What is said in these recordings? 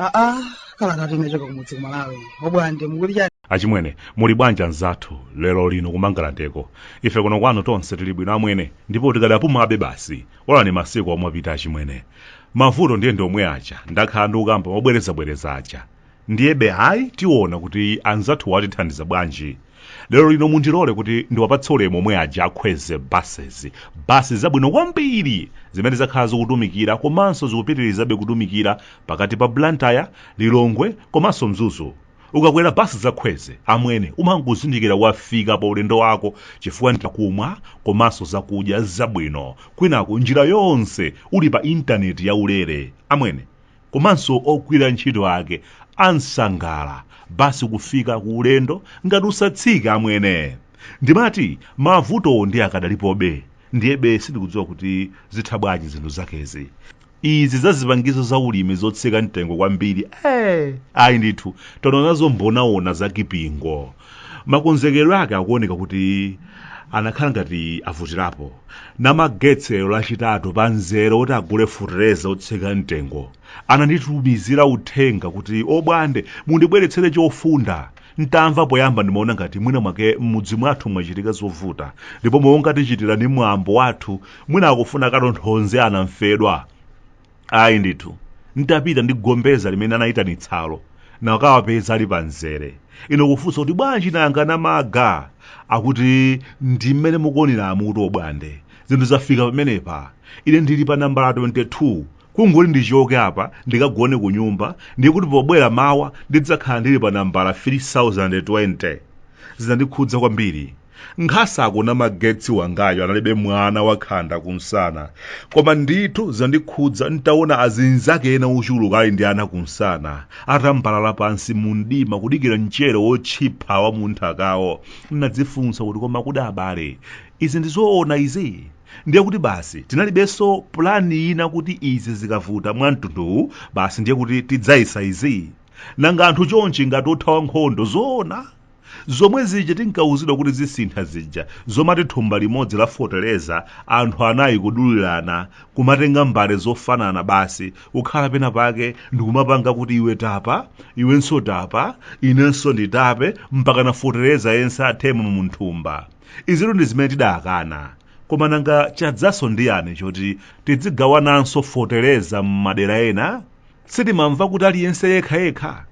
aa kalata inachoka kumudzi ku malawi obwande mukuti chani achimwene muli bwanji anzathu lero lino kumangalandeko ife kuno kwanu tonse tili bwino amwene ndipo tikadapumabe basi onani masiku omwe apita achimwene mavuto ndiye ndiomwe aja ndakhala ndikukamba mobwerezabwereza aja ndiyebe ayi tiona kuti anzathu atithandiza bwanji lero lino mundilole kuti ndiwapatse ulemu omwe aja akhweze bases basi zabwino kwambiri zimene zakhala zikutumikira komanso zikupitirizabe kutumikira pakati pa blantyre lilongwe komanso mzuzu ukakwera basi zakhweze amwene umangozindikira wafika pa ulendo wako chifukwa ndi kumwa komanso zakudya zabwino kwinaku njira yonse uli pa intaneti yaulere amwene komanso ogwira ntchito ake ansangala basi kufika ku ulendo ngati usatsike amwene ndimati mavutowo ndiye akadalipobe ndiyebe sindikudziwa kuti zitha bwanji zinthu zakezi izi za zipangizo za ulimi zotsika mtengo kwambiri eh, ayi ndithu taonazo mbonaona za kipingo makonzekedwe ake akuoneka kuti anakhala ngati avutirapo namagetsi lachitatu pa mzere oti agule feteleza otsika mtengo ananditumizira uthenga kuti obwande mundibweretsere chofunda nditamva poyamba ndimaona ngati mwina mwake m'mudzi mwathu mwachitika zovuta ndipo monga tichitira ndi mwambo wathu mwina akufuna katonthonze anamfedwa ayi ndithu nditapita ndi gombeza limene anayitanitsalo nakawapeza ali pa mzere ine kufunsa kuti bwanji nanga namaga akuti ndi mmene mukuoneramo kuti obwande zinthu zafika pamenepa ine ndili pa nambala 22 kungoti ndichoke apa ndikagone ku nyumba ndiye kuti pobwera mawa ndidzakhala ndili pa nambala 3020 zinandikhudza kwambiri nkhasako namagetsi wangayo analibe mwana wakhanda kumsana koma ndithu zinandikhudza nditaona azinzake ena ochuluka ali ndi ana kumsana atambalala pansi mu mdima kudikira mchere wotchipha wa m'nthakawo ndadzifunsa kuti koma kodi abale izi ndizoona izi ndiye kuti basi tinalibenso pulani ina kuti izi zikavuta mwa mtunduwu basi ndiye kuti tidzayesa izi nanga anthu chonchi ngati othawa nkhondo zoona zomwe zija tinkawuzidwa kuti zisintha zija zomati thumba limodzi la feteleza anthu anayi kudulirana kumatenga mbale zofanana basi kukhala pena pake ndikumapanga kuti iwe tapa iwenso tapa inenso nditape mpaka na feteleza yense athemo m'thumba izitu ndi zimene tidakana koma nanga chadzanso ndi chiyani choti tidzigawananso feteleza m'madera ena sitimamva kuti aliyense yekhayekha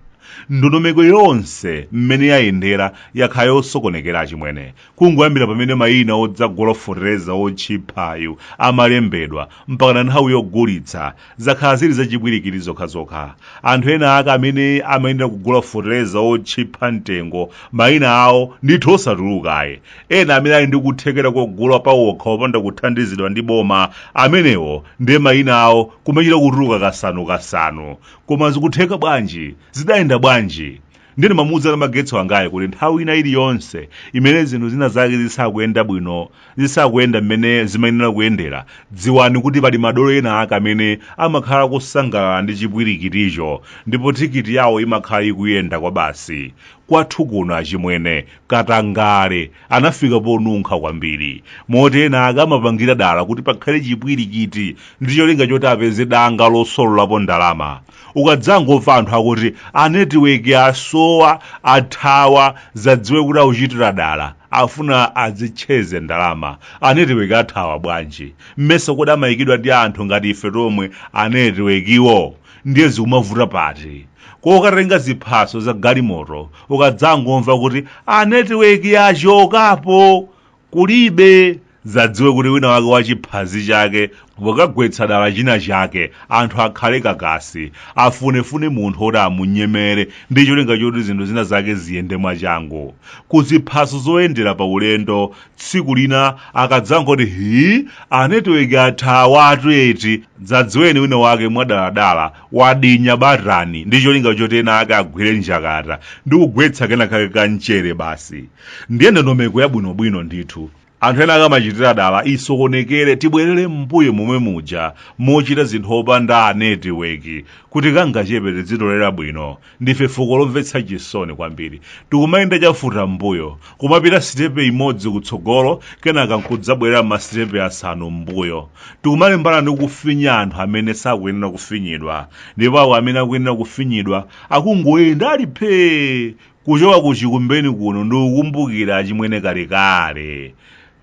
ndondomeko yonse mmene yayendera yakhala yosokonekera achimwene kungoyambira pamene mayina odzagula fotereza otchiphayu amalembedwa mpakana nthawi yogulitsa zakhala zili zachipwirikiti zokhazokha anthu ena ake amene amayenera kugula fotereza otchipha mtengo mayina awo ndithu osatulukaye Ena amene ali ndi kuthekera kogula pawokha opanda kuthandizidwa ndi boma, amenewo ndiye mayina awo kumachita kutuluka kasanu kasanu. Koma zikutheka bwanji? Zidayenda bwanji? Ndiye ndimamuuza namagetsi wangayo kuti nthawi ina iliyonse imene zinthu zina zake zisakuyenda bwino, zisakuyenda mmene zimayenera kuyendera, dziwani kuti pali madolo ena ake amene amakhala akusangalala ndi chipwirikiticho ndipo tikiti yawo imakhala ikuyenda kwabasi. Kwathu kuno achimwene, katangale anafika ponunkha kwambiri moti ena ake amapangira dala kuti pakhale chipwirikiti ndi cholinga choti apeze danga losololapo ndalama ukadzangomva anthu akuti anetiweki asowa athawa dzadziwe kuti akuchitira dala afuna azitcheze ndalama anetiweki athawa bwanji mmesa kodi amayikidwa ndi anthu ngati ife tomwe anetiwekiwo ndiye zikumavuta pati kokatenga ziphaso za galimoto ukadzangomva kuti a netiweki yachokapo kulibe dzadziwe kuti wina wake wachiphazi chake wagwetsa dala china chake anthu akhale kakasi afunefune munthu oti amunyemere ndi cholinga choti zinthu zina zake ziyende mwachangu kuziphaso zoyendera pa ulendo tsiku lina akadzangoti hii anetiweki athawatu eti dzadziweni wina wake mwadaladala wadinya batani ndi cholinga choti ena ake agwire njakata ndi kugwetsa kena kake ka mchere basi ndiye ndondomeko yabwinobwino ndithu anthu ena ake amachitira dala isokonekere tibwerere m'mbuyo momwe muja mochita zinthu opanda anetiweki kuti kangachepe tidzitolera bwino ndife fuko lomvetsa chisoni kwambiri tikumayenda chafuta mbuyo kumapita sitepe imodzi kutsogolo kenaka nkudzabwerera masitepe asanu m'mbuyo tikumalimbana ndi kufinya anthu amene sakuyenera kufinyidwa ndipo awo amene akuyenera kufinyidwa akungoyenda ali phee kuchoka ku chikumbeni kuno ndikukumbukira achimwene kalekale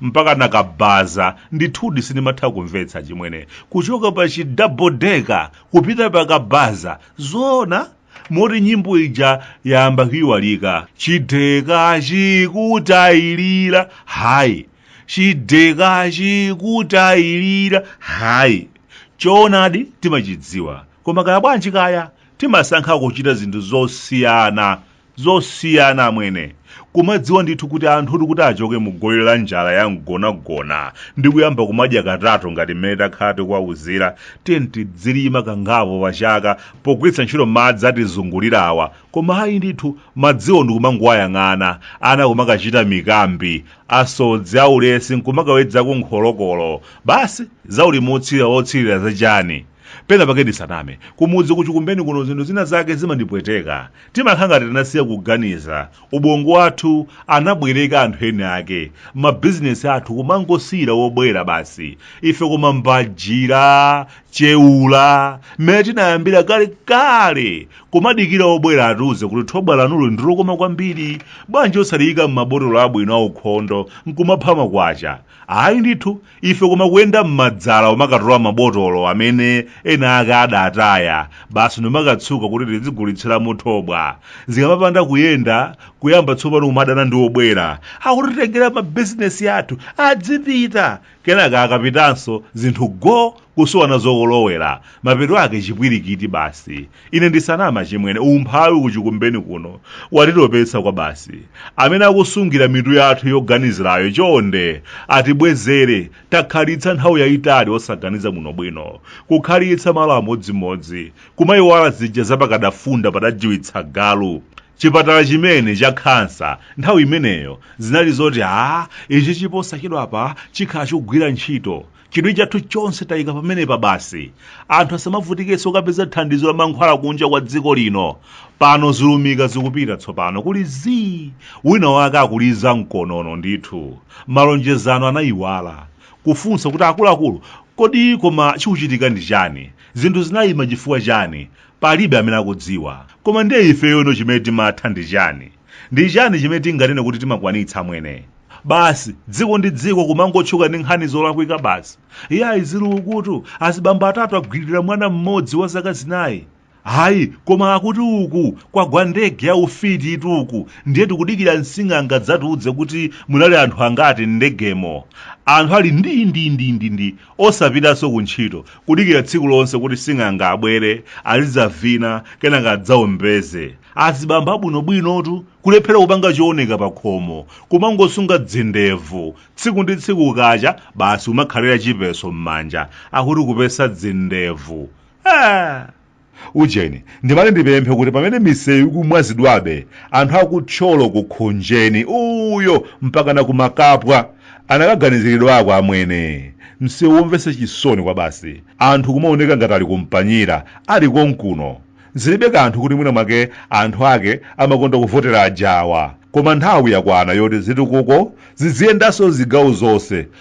mpaka pa kabaza ndithudi sindimatha kumvetsa achimwene kuchoka pa chi double decker kupita pa kabaza zoona moti nyimbo ija yayamba kuiwalika chideka chikutayilira hayi chideka chikutayilira hayi choonadi timachidziwa koma kaya bwanji kaya timasankha kuchita zinthu zosiyana zosiyana amwene kumadziwa ndithu kuti anthutu kuti achoke mu goli la njala ya mgonagona ndi kuyamba kumadya katatu ngati mmene takhala tikuwauzira tiyeni tidzilima kangapo pachaka pogwiritsa ntchito madzi atizungulira awa koma ayi ndithu madziwo ndikumangoyang'ana ana kumakachita mikambi asodzi aulesi nkumakawedzako nkholokolo basi zaulimi otsirira otsirira zachani pena pake ndisaname kumudzi kuchikumbeni kuno zinthu zina zake zimandipweteka timakhala ngati tinasiya kuganiza ubongo wathu anabwereka anthu eni ake mabizinesi athu kumangosiyira wobwera basi ife koma mbajira cheula mmene tinayambira kale kale kumadikira wobwera atiuze kuti thobwa lanulo ndilokoma kwambiri bwanji osaliyika m'mabotolo abwino aukhondo nkumapha makwacha ayi ndithu ife koma kuyenda m'madzala kumakatola mabotolo amene ena ake adataya basi nkumakatsuka kuti tizigulitsiramo thobwa zikamapanda kuyenda kuyamba tsopano kumadana ndi obwera akutitengera mabizinesi athu adzipita kenaka akapitanso zinthu go kusowa nazo kolowera mapeto ake chipwirikiti basi ine ndisaname achimwene umphawi kuchikumbeni kuno watitopetsa kwabasi amene akusungira mitu yathu yoganizirayo chonde atibwezere takhalitsa nthawi yayitali osaganiza bwinobwino kukhalitsa malo amodzimodzi kumayiwala zija za pakadafunda padajiwitsa galu chipatala chimene cha khansa nthawi imeneyo zinali zoti a ichichi posachedwapa chikhala chikugwira ntchito chidwi chathu chonse tayika pamenepa basi anthu asamavutikenso kukapeza thandizo la mankhwala kunja kwa dziko lino pano zilumika zikupita tsopano kuli zii wina wake akuliza mkonono ndithu malonjezano anayiwala kufunsa kuti akuluakulu kodi koma chikuchitika ndi chani zinthu zinayima chifukwa chani palibe amene akudziwa koma ndiye ifeyo ino chimene timatha ndi chani Ndi chani chimene tinganene kuti timakwanitsa amwene? Basi dziko ndi dziko kumangotchuka ndi nkhani zolakwika basi. Iyayi zili ukutu azibambo atatu agwiririra mwana mmodzi wa zaka zinayi. Ayi koma akuti uku kwagwa ndege ya ufititu uku ndiye tikudikira msing'anga adzatiudze kuti munali anthu angati m'ndegemo. Anthu ali ndi ndi ndi ndi ndi Osapitanso kuntchito, kudikira tsiku lonse kuti sing'anga abwere, azidzavina, kenaka adzaombeze. Azibambo abwinobwinotu, kulephera kupanga chooneka pakhomo, kumangosunga dzindevu, tsiku ndi tsiku kukacha, basi kumakhalira chipeso m'manja, akuti kupesa dzindevu. Eeh! Ujeni, ndimati ndipemphe kuti pamene misewu ikumwazidwabe, anthu aku Thyolo ku Khonjeni uyo mpakana ku Makapwa anakaganiziridwako amwene. Msewu womvetsa chisoni kwabasi. Anthu kumaoneka ngati ali ku Mpanyira, ali konkuno. Zilibe kanthu kuti mwina mwake anthu ake amakonda kuvotera ajawa, koma nthawi yakwana yoti zitukuko zidziyendanso zigawo zonse